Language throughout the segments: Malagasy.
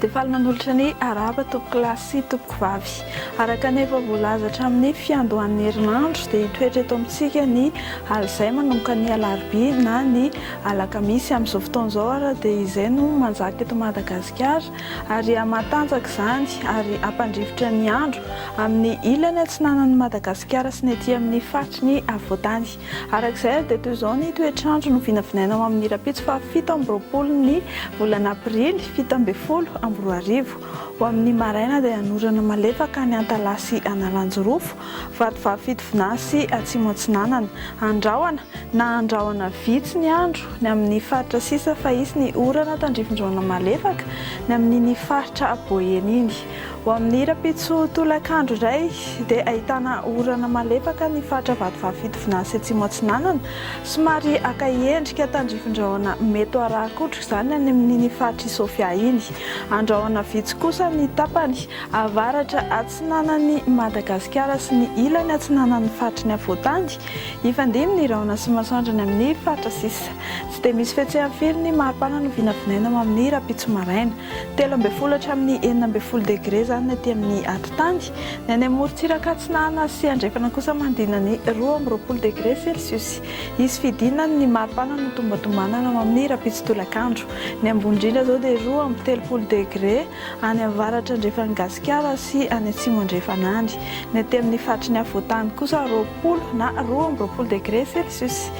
Dia faly manolotra ny arahaba tompoko lahy sy tompoko vavy. Araka ny efa voalaza hatramin'ny fiandohan'ny herinandro dia hitoetra eto amintsika ny alizay manomboka ny alarobia na ny alakamisy. Amin'izao fotoana izao ary dia izay no manjaka eto Madagasikara. ary hahamatanjaka izany ary hampandrifotra ny andro amin'ny ilany atsinanan'i Madagasikara sy ny aty amin'ny faritry ny afovoantany. Araka izay ary dia toy izao ny toetr'andro no vinavinaina ho amin'ny rahampitso faha fito amby roapolo ny volana aprily fito ambin'ny folo amby roa arivo. Ho amin'ny maraina dia hanorana malefaka any Antalaha sy Analanjirofo Vatovavy Fitovina sy Atsimo Atsinanana. Andrahona, na andrahona vitsy ny andro, ny amin' ny faritra sisa fa hisy ny orana tandrifin-drona malefaka, ny amin' iny faritra Boeny iny. Ho amin' ny rahampitso tolakandro iray dia ahitana orana malefaka ny faritra Vatovavy Fitovina sy Atsimo Atsinanana, somary haka endrika tandrifin-drahona mety ho arahan-kotroka izany any amin' iny faritra Isofia iny. Andrahona vitsy kosa ny tapany avaratra atsinanan'i Madagasikara sy ny ilany atsinanan'ny faritry ny afovoantany, hifandimby ny rahona sy masoandro any amin'ny faritra sisa. Tsy dia misy fihetseham firy ny maripana no vinavinaina ho amin'ny rahampitso maraina. Telo ambin'ny folo hatramin'ny enina ambin'ny folo degre izany ny aty amin'ny atitany, ny any amorontsiraka atsinanana sy andrefana kosa manodidina ny roa amby roapolo degre selsiosy. Hisy fidinan ny maripana no tombatombanana ho amin'ny rahampitso tolakandro. Ny ambony indrindra izao dia roa amby telopolo degre. any avaratra andrefan'i Gasikara sy any atsimo andrefan'Andy. Ny aty amin'ny faritry ny afovoan-tany kosa roapolo na roa amby roapolo degré celsius.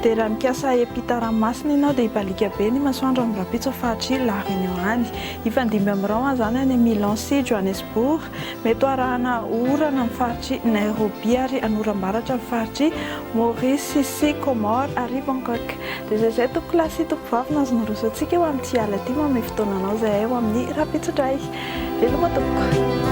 Dia raha mikasa hiampita ranomasina ianao dia hibaliaka be ny masoandro amin'ny rahampitso faritr'i La Réunion any. Hifandimby amin'ny rahona izany any Milan sy Johannesburg. Mety ho arahana orana ny faritr'i Nairobi ary an'oram-baratra ny faritr'i Maurice sy Comores ary Bangkok. Dia izay izay tompoko lahy sy tompoko vavy no azo nirosoantsika eo amin'ity alina ity. Manome fotoananao izay hay ho amin'ny rahampitso indray. Veloma tompoko.